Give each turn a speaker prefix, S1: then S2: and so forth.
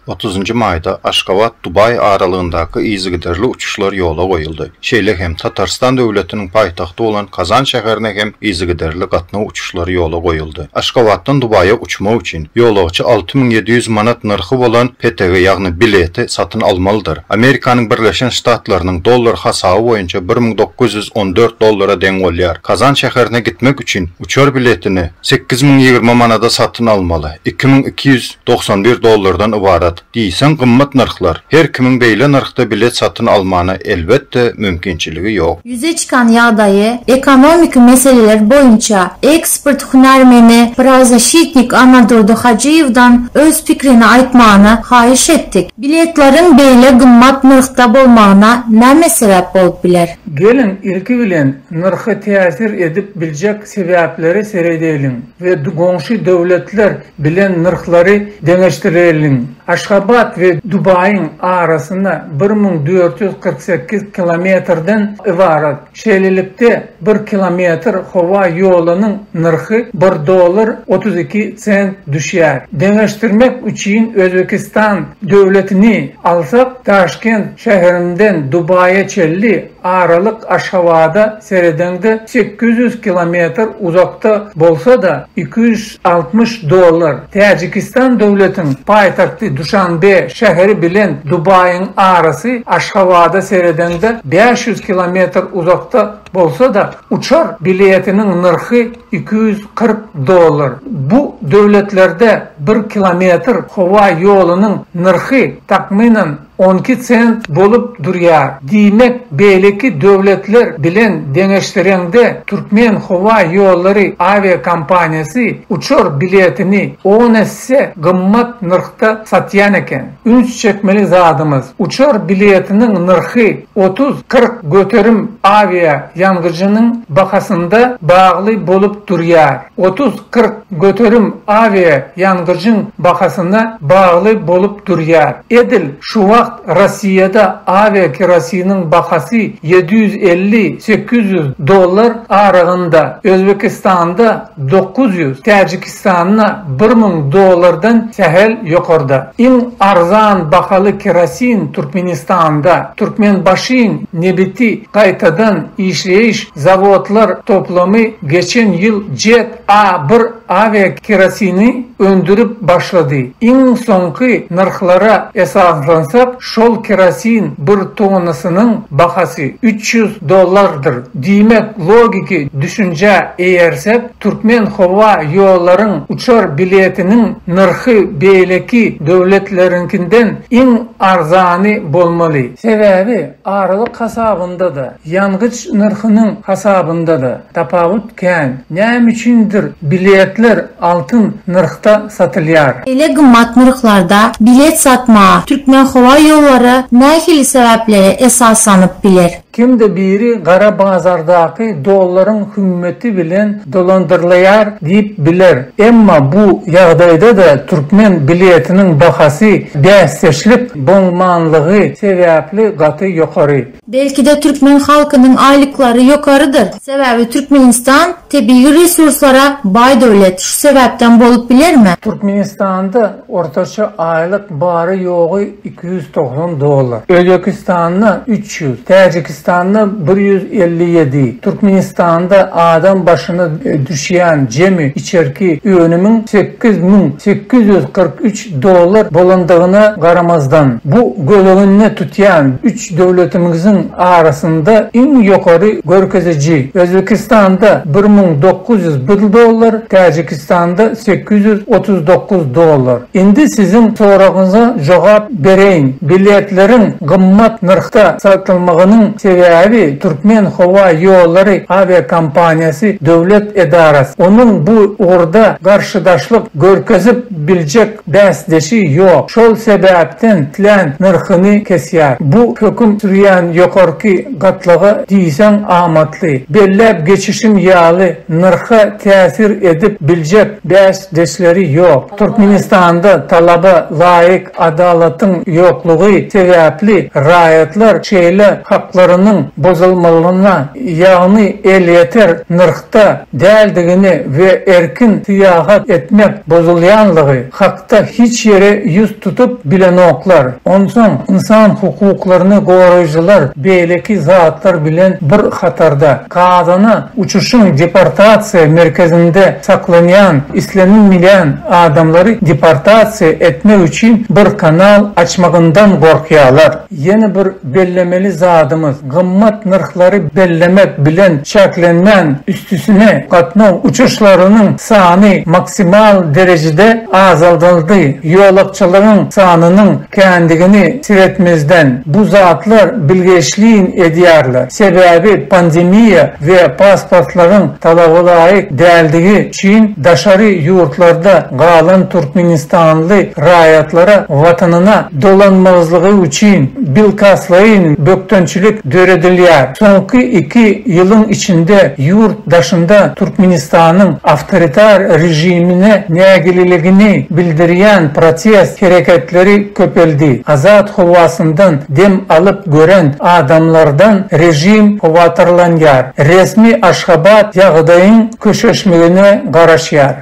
S1: Otuzynjy maýda Aşgabat, Dubaý aralygyndaky yzygiderli uçuşlar ýola goýuldy. Şeýle hem Tatarystan döwletiniň paýtagty bolan Kazan şäherine hem yzygiderli gatnaw uçuşlary ýola goýuldy. Aşgabatdan Dubaýa uçmak üçin, ýolagçy alty müň ýedi ýüz manat nyrhy bolan PTG, ýagny bileti, satyn almalydyr. Amerikanyň Birleşen Ştatlarynyň dollar hasaby boýunça bir müň dokuz ýüz on dört dollara deň bolýar. Kazan şäherine gitmek üçin, Uçar biletini sekiz müň ýigrimi manada satyn almaly, iki müň iki ýüz dogsan bir dollardan ybarat diýseň gymmat nyrhlar, her kimiň beýle nyrhda bilet satyn almana elbetde mümkinçiligi ýok. Ýüze çykan ýagdaýy,
S2: ekonomiki meseleler boýunça ekspert hünärmeni prawzaşitnik Anadurdy Hajyýewden öz pikrini aýtmagyny haýyş etdik. Biletleriň beýle gymmat nyrhda bolmagyna näme sebäp bolup biler? Geliň, ilki
S3: bilen, Nyrhy täsir edip biljek sebäplere seredeliň we goňşy döwletler bilen nyrhlary deňeşdireliň. Aşgabat we Dubaýyň arasynda bir müň dört ýüz kyrk sekiz kilometrden ybarat. Şeýlelikde, bir kilometr howa ýolunyň nyrhy bir dollar otuz iki sent düşýär. Deňeşdirmek üçin Özbekistan döwletini alsak, Daşkent şäherinden Dubaýa çenli Aralyk Aşgabada seredeňde sekiz ýüz kilometr uzakda bolsa-da, iki ýüz altmyş dollar, Täjikistan döwletiň paýtagty Duşanbe şäheri bilen Dubaýyň arasy Aşgabada seredeňde bäş ýüz kilometr uzakda bolsa-da, uçar biletiniň nyrhy iki ýüz kyrk dollar. Bu döwletlerde bir kilometr howa ýolunyň nyrhy, takmynan, on iki sent bolup durýar. Diýmek, beýleki döwletler bilen deňeşdireňde, Türkmen howa ýollary awiakompaniýasy uçar biletini on esse gymmat nyrhda satýan eken. Üns çekmeli zadymyz, uçar biletiniň nyrhy otuz-kyrk göterim awiaýangyjynyň bahasynda bagly bolup durýar. Otuz, kyrk göterim awia ýangyjyň bahasyna bagly bolup durýar. Edil şu wagt Rossiýada awia kerosiniň bahasy ýedi ýüz elli, sekiz ýüz dollar aragynda, Özbekistanda dokuz ýüz, Täjikistanda bir müň dollardan sähel ýokarda. Iň arzan bahaly kerosin Türkmenistanda Türkmenbaşyň nebiti gaýtadan işleýiş Zawodlar toplumy geçen ýyl Jet A bir awiakerosini öndürip başlady. Iň soňky nyrhlara esaslansak, şol kerosin bir tonnasynyň bahasy üç ýüz dollardyr. Diýmek, logiki düşünjä eýersek, türkmen howa ýollaryň uçar biletiniň nyrhy beýleki döwletleriňkinden iň arzany bolmaly. Sebäbi, aralyk hasabynda-da, Ýangyç nyrhynyň hasabynda-da tapawut kän. Näme üçindir biletler altyn nyrhda satylýar. Beýle gymmat
S2: nyrhlarda bilet satmaga Türkmenhowaýollary nähili sebäplere esaslanyp biler? Kimde biri
S3: gara bazardaky dollaryň hümmeti bilen dolandyrlaýar diýip biler. Emma bu ýagdaýda-da türkmen biletiniň bahasy bäsdeşlik boňmanlygy sebäpli gaty ýokary. Belki-de türkmen
S2: halkynyň aýlyklary ýokarydyr. Sebäbi Türkmenistan tebigy resurslara baý döwlet. Şu sebäpden bolup bilermi? Türkmenistanda
S3: ortaça aýlyk bary-ýogy iki ýüz togsan dollar. Özbekistanda üç ýüz, Täjikistanda bir ýüz elli ýedi. Türkmenistanda adam başyna düşýän jemi içerki önümiň sekiz müň sekiz ýüz kyrk üç dollar bolandygyna garamazdan, bu göz öňünde tutýan üç üç döwletimiziň arasynda iň ýokary görkeziji, Özbekistanda bir müň dokuz ýüz bir dollar, Täjikistanda sekiz ýüz otuz dokuz dollar. Indi siziň soragyňyza jogap bereýin. Biletleriň gymmat nyrhda satylmagynyň sebäbi Türkmen howa ýollary awiakompaniýasy döwlet edarasy. Onuň bu ugurda garşydaşlyk görkezip biljek Bäsdeşi ýok. Şol sebäpden tlän nyrhyny kesýär. Bu höküm sürýän ýokarky gatlaga diýseň amatly. Belläp geçişim ýaly, nyrha täsir edip biljek bäsdeşleri ýok. Türkmenistanda talaba laýyk adalatyň ýoklugy sebäpli raýatlar şeýle haklarynyň bozulmalyna, ýagny elýeter nyrh. hakda däldigini we erkin syýahat etmek bozulýanlygy hakda hiç ýere ýüz tutup bilenoklar. Onsoň ynsan hukuklaryny goraýjylar beýleki zatlar bilen bir hatarda, Gazana uçuşyň deportasiýa merkezinde saklanýan islenilmeýän adamlary deportasiýa etmek üçin bir kanal açmagyndan gorkýarlar. Ýene bir bellemeli zadymyz, gymmat nyrhlary bellemek bilen çäklenmän, üstüsine gatnaw uçuşlarynyň sany maksimal derejede azaldyldy. Ýolagçylaryň sanynyň kändigini seretmezden, bu zatlar bilgeşleýin edýärler. Sebäbi pandemiýa we pasportlaryň talabalaýyk däldigi Çyn daşary ýurtlarda galan türkmenistanly raýatlara watanyna dolanmazlygy üçin bilkastlaýyn bökdençilik döredilýär. Soňky iki ýylyň içinde ýurt daşynda Türkmenistanyň awtoritar režimine nägileligini bildirýän protest hereketleri köpeldi. Azat howasyndan dem alyp gören adamlardan režim howatyrlanýar. Resmi Aşgabat ýagdaýyň Köşeşmegine garaşýar.